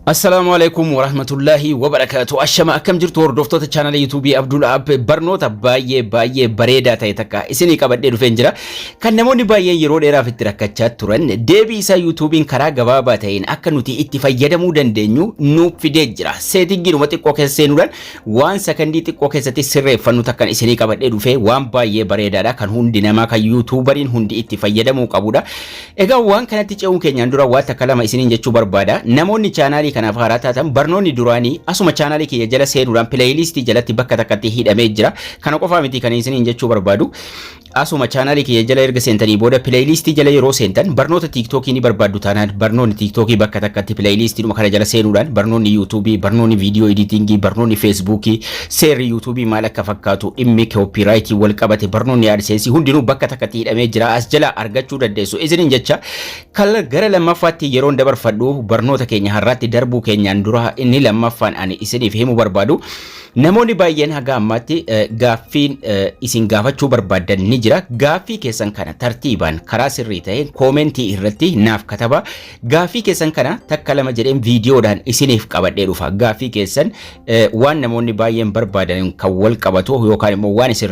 Assalaamu alaikum warahmatullaahi wabarakaatu. Ashama akkam jirtu hordoftoota chaanala yuutuubii Abdul App barnoota baay'ee baay'ee bareedaa ta'e takka isinii qabadhee dhufeen jira. Kan namoonni baay'een yeroo dheeraaf itti rakkachaa turan deebii isaa yuutuubiin karaa gabaabaa ta'een akka nuti itti fayyadamuu dandeenyu nuuf fidee jira. Seetingiinuma xiqqoo keessa seenuudhaan waan sakandii xiqqoo keessatti sirreeffannu takkan isinii qabadhee dhufee waan baay'ee bareedaadha kan hundi namaa kan yuutuubariin hundi itti fayyadamuu qabudha. Egaa waan kanatti ce'uun keenyaan dura waan takka lama isiniin jechuu barbaada. Namoonni chaanaalii kanaaf haaraa taatan barnoonni duraanii asuma chaanaalii kiyya jala seenuudhaan pileeyiliistii jalatti bakka takkatti hidhamee jira. Kana qofaa miti kan isiniin jechuu barbaadu. Asuma chaanaalii kiyya jala erga seentanii booda pileeyiliistii jala yeroo seentan barnoota tiiktookii ni barbaaddu taanaan barnoonni tiiktookii bakka takkatti pileeyiliistiidhuma kana jala seenuudhaan barnoonni yuutuubii, barnoonni viidiyoo editingii, barnoonni feesbuukii, Seerri YouTube maal akka fakkaatu, dhimmi copyright wal qabate barnoonni AdSense hundinuu bakka takkatti hidhamee jira as jala argachuu dandeessu. Isinin jecha kala gara lammaffaatti yeroon dabarfadhu barnoota keenya har'aatti darbuu keenyaan dura inni lammaffaan ani isiniif himu barbaadu. Namoonni baay'een haga ammaatti eh, gaaffiin eh, isin gaafachuu barbaadan ni jira. Gaaffii keessan kana tartiibaan karaa sirrii ta'een koomentii irratti naaf kataba. Gaaffii keessan kana takka lama jedheen viidiyoodhaan isiniif qabadhee dhufa. Gaaffii keessan waan namoonni baay'een barbaadan kan wal qabatu yookaan immoo waan isin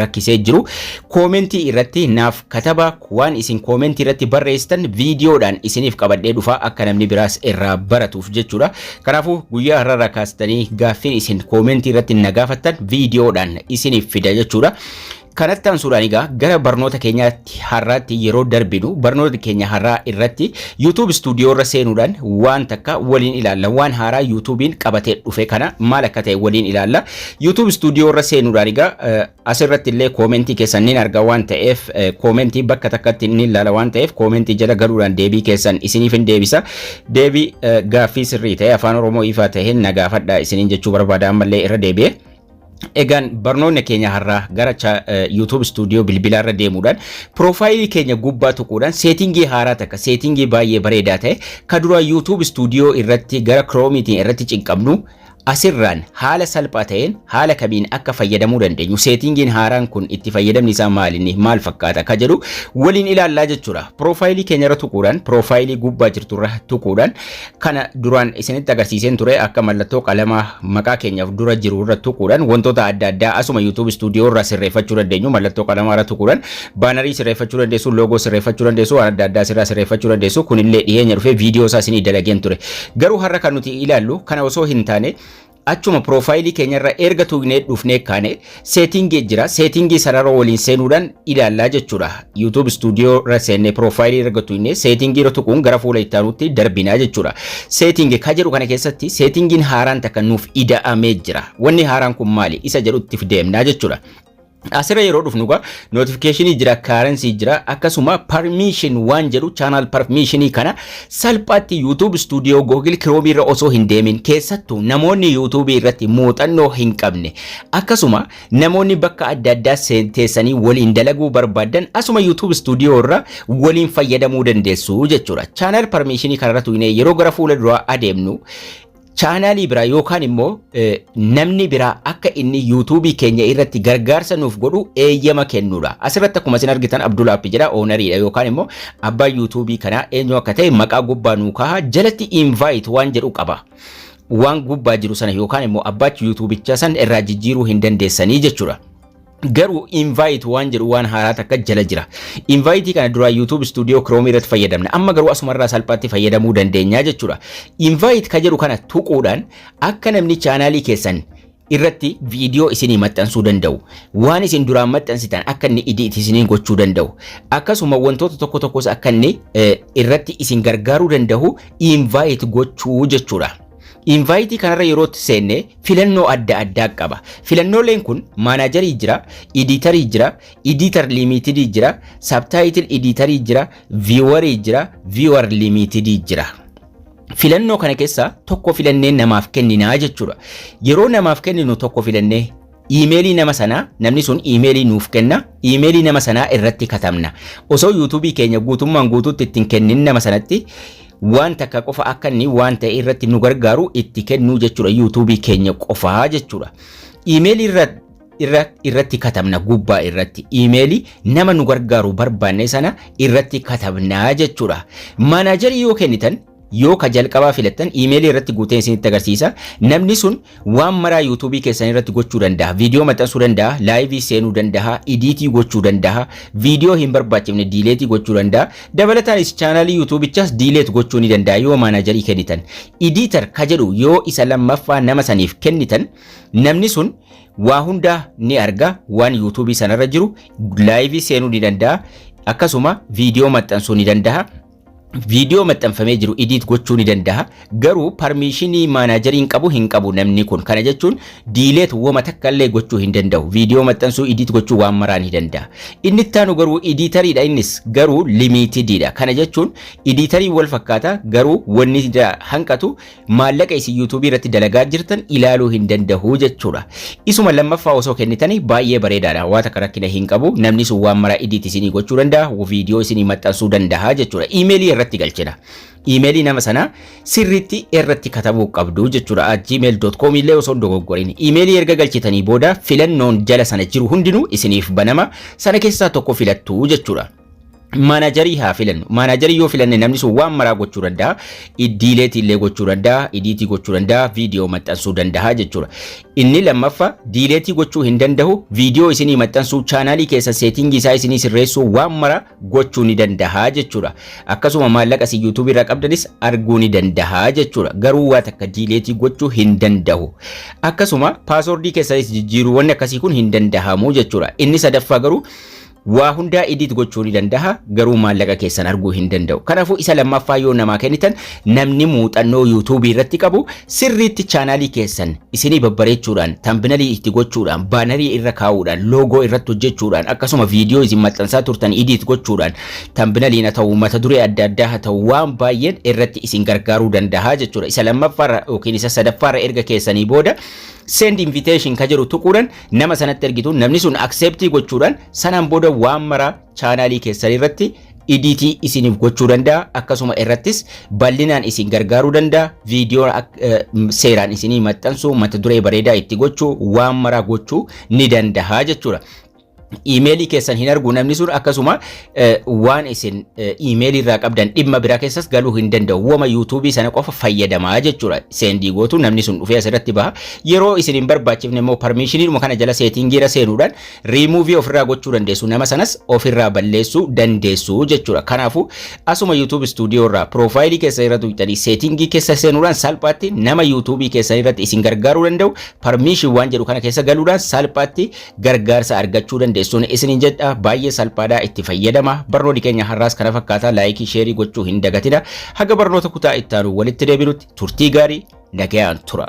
rakkisee jiru koomentii irratti naaf kataba waan isin koomentii irratti barreessitan viidiyoodhaan isiniif qabadhee dhufaa akka namni biraas irraa baratuuf jechuudha. Kanaafuu guyyaa har'arraa kaastanii gaaffiin isin koomentii irratti na gaafattan viidiyoodhaan isiniif fida jechuudha. Kanatti aansuudhaan egaa gara barnoota keenyaatti har'aatti yeroo darbinu barnoota keenya har'aa irratti YouTube studio irra seenuudhaan waan takka waliin ilaalla. Waan haaraa YouTube'n qabatee dhufe kana maal akka ta'e waliin ilaalla. YouTube studio irra seenuudhaan egaa asirratti illee koomentii keessan nin arga waan ta'eef koomentii bakka takkatti nin ilaala waan ta'eef koomentii jala galuudhaan deebii keessan isiniif hin deebisa. Deebii gaaffii sirrii ta'e afaan Oromoo ifaa ta'een na gaafadha isiniin jechuu barbaada ammallee irra deebi'ee. Egaan barnoonni keenya har'aa gara cha- eh, YouTube studio bilbilaa irra deemuudhaan piroofaayilii keenya gubbaa tuquudhaan seetingii haaraa takka seetingii baay'ee bareedaa ta'e ka duraa YouTube studio irratti gara kiroomiitiin irratti cinqabnu asirraan haala salphaa ta'een haala kamiin akka fayyadamuu dandeenyu seetingiin haaraan kun itti fayyadamni isaa maalinni maal fakkaata ka jedhu waliin ilaallaa jechuudha. Piroofaayilii keenya irra tuquudhaan piroofaayilii gubbaa jirtu irra tuquudhaan Kana duraan isinitti agarsiiseen ture akka mallattoo qalama maqaa keenyaaf dura jiru irra tuquudhaan wantoota adda addaa asuma YouTube studio irraa sirreeffachuu dandeenyu mallattoo qalamaa irra tuquudhaan baanarii sirreeffachuu dandeessu loogoo sirreeffachuu dandeessu waan adda addaa sirraa sirreeffachuu dandeessu kunillee dhiyeenya dhufee viidiyoo isaa isinii dalageen ture garuu har'a kan nuti ilaallu kana osoo hin taane Achuma piroofaayilii keenyarra erga tuugnee dhufnee kaane seetingii jira. Seetingii sanarra waliin seenuudhaan ilaallaa jechuudha. YouTube Studio irra seennee piroofaayilii erga tuugnee seetingii irra tuquun gara fuula itti aanutti darbinaa jechuudha. Seetingii ka jedhu kana keessatti seetingiin haaraan takka nuuf ida'amee jira. Wanni haaraan kun maali? Isa jedhutti deemnaa jechuudha. Asirra yeroo dhufnu egaa notification jira, currency jira, akkasuma permission waan jedhu channel permission kana salphaatti YouTube Studio Google Chrome irra osoo hin deemin keessattuu namoonni YouTube irratti muuxannoo hin qabne akkasuma namoonni bakka adda addaa seen- teessanii waliin dalaguu barbaadan asuma YouTube Studio irra waliin fayyadamuu dandeessu jechuudha. Channel permission kanarratti yeroo gara fuula duraa adeemnu chaanaalii biraa yookaan immoo eh, namni biraa akka inni yuutuubii keenya irratti gargaarsa nuuf godhu eeyyama kennuudha. Asirratti akkuma isin argitan Abdul App jedha oonariidha yookaan immoo abbaa yuutuubii kanaa eenyu akka ta'e maqaa gubbaa nuu kaha jalatti invite waan jedhu qaba. Waan gubbaa jiru sana yookaan immoo abbaachi yuutuubicha san irraa jijjiiruu hin dandeessanii jechuudha. Garuu invite waan jedhu waan haaraa takka jala jira. Invite kana duraa YouTube Studio Chrome irratti fayyadamna. Amma garuu asumarraa salphaatti fayyadamuu dandeenya jechuudha. Invite ka jedhu kana tuquudhaan akka namni chaanaalii keessan irratti viidiyoo isinii maxxansuu danda'u. Waan isin duraan maxxansitan akka inni idiiti isiniin gochuu danda'u. Akkasuma wantoota tokko tokkos akka inni irratti isin gargaaruu danda'u invite gochuu jechuudha. Invaayitii kanarra yerootti seenne filannoo adda addaa qaba. Filannooleen kun maanaajarii jira, idiitarii jira, idiitar liimiitidii jira, sabtaayitil idiitarii jira, viiwarii jira, viiwar liimiitidii jira. Filannoo kana keessaa tokko filannee namaaf kenninaa jechuudha. Yeroo namaaf kenninu tokko filannee Iimeelii nama sanaa namni sun iimeelii nuuf kenna iimeelii nama sanaa irratti katabna osoo yuutuubii keenya guutummaan guutuutti ittiin kennin nama sanatti waan takka qofa akka inni waan ta'e irratti nu gargaaru itti kennuu jechuudha yuutuubii keenya qofaa jechuudha iimeelii irra irra irratti katabna gubbaa irratti iimeelii nama nu gargaaru barbaanne sana irratti katabna jechuudha maanaajarii yoo kennitan Yoo ka jalqabaa filattan iimeelii irratti guutee isinitti agarsiisa. Namni sun waan maraa yuutuubii keessan irratti gochuu danda'a. Viidiyoo maxxansuu danda'a, laayivii seenuu danda'a, idiitii gochuu danda'a, viidiyoo hin barbaachifne diileetii gochuu danda'a. Dabalataanis chaanaalii yuutuubichaas diileet gochuu ni danda'a yoo maanaajarii kennitan. Idiitar ka jedhu yoo isa lammaffaa nama saniif kennitan namni sun waa hundaa ni arga waan yuutuubii sanarra jiru laayivii seenuu ni danda'a akkasuma viidiyoo maxxansuu ni danda'a. viidiyoo maxxanfamee jiru idiit gochuu ni danda'a. Garuu parmiishinii maanaajeriin qabu hin qabu namni kun. Kana jechuun diileet woma takka illee gochuu hin danda'u. Viidiyoo maxxansuu idiit gochuu waan maraa ni danda'a. Inni itti aanu garuu idiitariidha innis garuu limiitidiidha. Kana jechuun idiitariin wal fakkaata garuu wanni hanqatu maallaqa isin YouTube irratti dalagaa jirtan ilaaluu hin danda'u jechuudha. Isuma lammaffaa osoo kennitanii baay'ee bareedaadha. Waan takka rakkina hin qabu. Namni sun waan maraa idiit isinii gochuu danda'a. Viidiyoo isinii maxxansuu danda'a jechuudha. Iimeelii irratti galchina. Iimeelii nama sanaa sirriitti irratti katabuu qabdu jechuudha. gmail.com illee osoo hin dogoggorin. Iimeelii erga galchitanii booda filannoon jala sana jiru hundinuu isiniif banama. Sana keessaa tokko filattu jechuudha. Maanajarii haa filannu. Maanajarii yoo filanne namni sun waan maraa gochuu danda'a. Iddiileetii illee gochuu danda'a. Idiitii gochuu danda'a. Viidiyoo maxxansuu danda'a jechuudha. Inni lammaffaa diileetii gochuu hin danda'u. Viidiyoo isinii maxxansuu chaanaalii keessa seetingii isaa isinii sirreessuu waan maraa gochuu ni danda'a jechuudha. Akkasuma maallaqa isin yuutuubii irraa qabdanis arguu ni danda'a jechuudha. Garuu waa takka diileetii gochuu hin danda'u. Akkasuma paasoordii keessanis jijjiiruu wanni akkasii kun hin danda'amu jechuudha. Inni sadaffaa garuu Waa hundaa edit gochuu ni dandaha garuu maallaqa keessan arguu hin danda'u. Kanaafuu isa lammaffaa yoo namaa kennitan namni muuxannoo YouTube irratti qabu sirriitti chaanaalii keessan isinii babbareechuudhaan, tambinalii itti gochuudhaan, baanarii irra kaa'uudhaan, loogoo irratti hojjechuudhaan, akkasuma viidiyoo isin maxxansaa turtan edit gochuudhaan tambinaliin haa ta'u mata duree adda addaa haa ta'u waan baay'een irratti isin gargaaruu dandaha jechuudha. Isa lammaffaarra yookiin isa sadaffaarra erga keessanii booda send invitation ka jedhu tuquudhaan nama sanatti ergitu namni sun accept gochuudhaan sanaan booda waan maraa chaanaalii keessan irratti idiitii isiniif gochuu danda'a akkasuma irrattis bal'inaan isin gargaaruu danda'a viidiyoo seeraan isinii maxxansuu mata duree bareedaa itti gochuu waan maraa gochuu ni danda'a jechuudha. Iimeelii keessan hin argu namni sun akkasuma eh, waan isin eh, iimeelii irraa qabdan dhimma biraa keessas galuu hin danda'u. Wama yuutuubii sana qofa fayyadamaa jechuudha. Seendii gootu namni sun dhufee asirratti baha. Yeroo isin hin barbaachifne immoo parmiishiniidhuma kana jala seetiingiira seenuudhaan riimuuvii ofirraa gochuu dandeessu. Nama sanas ofirraa balleessuu dandeessu jechuudha. Kanaafuu asuma yuutuubi istuudiyoo irraa piroofaayilii keessa irra tuqxanii seetiingii keessa seenuudhaan salphaatti nama yuutuubii keessan irratti isin gargaaruu danda'u parmiishin waan jedhu kana keessa galuudhaan salphaatti gargaarsa argachuu dandeessuun isiniin jedha baay'ee salphaadha itti fayyadama barnoonni keenya har'aas kana fakkaataa laayikii sheerii gochuu hin dagatina haga barnoota kutaa ittaanu walitti deebinutti turtii gaarii nagayaan tura.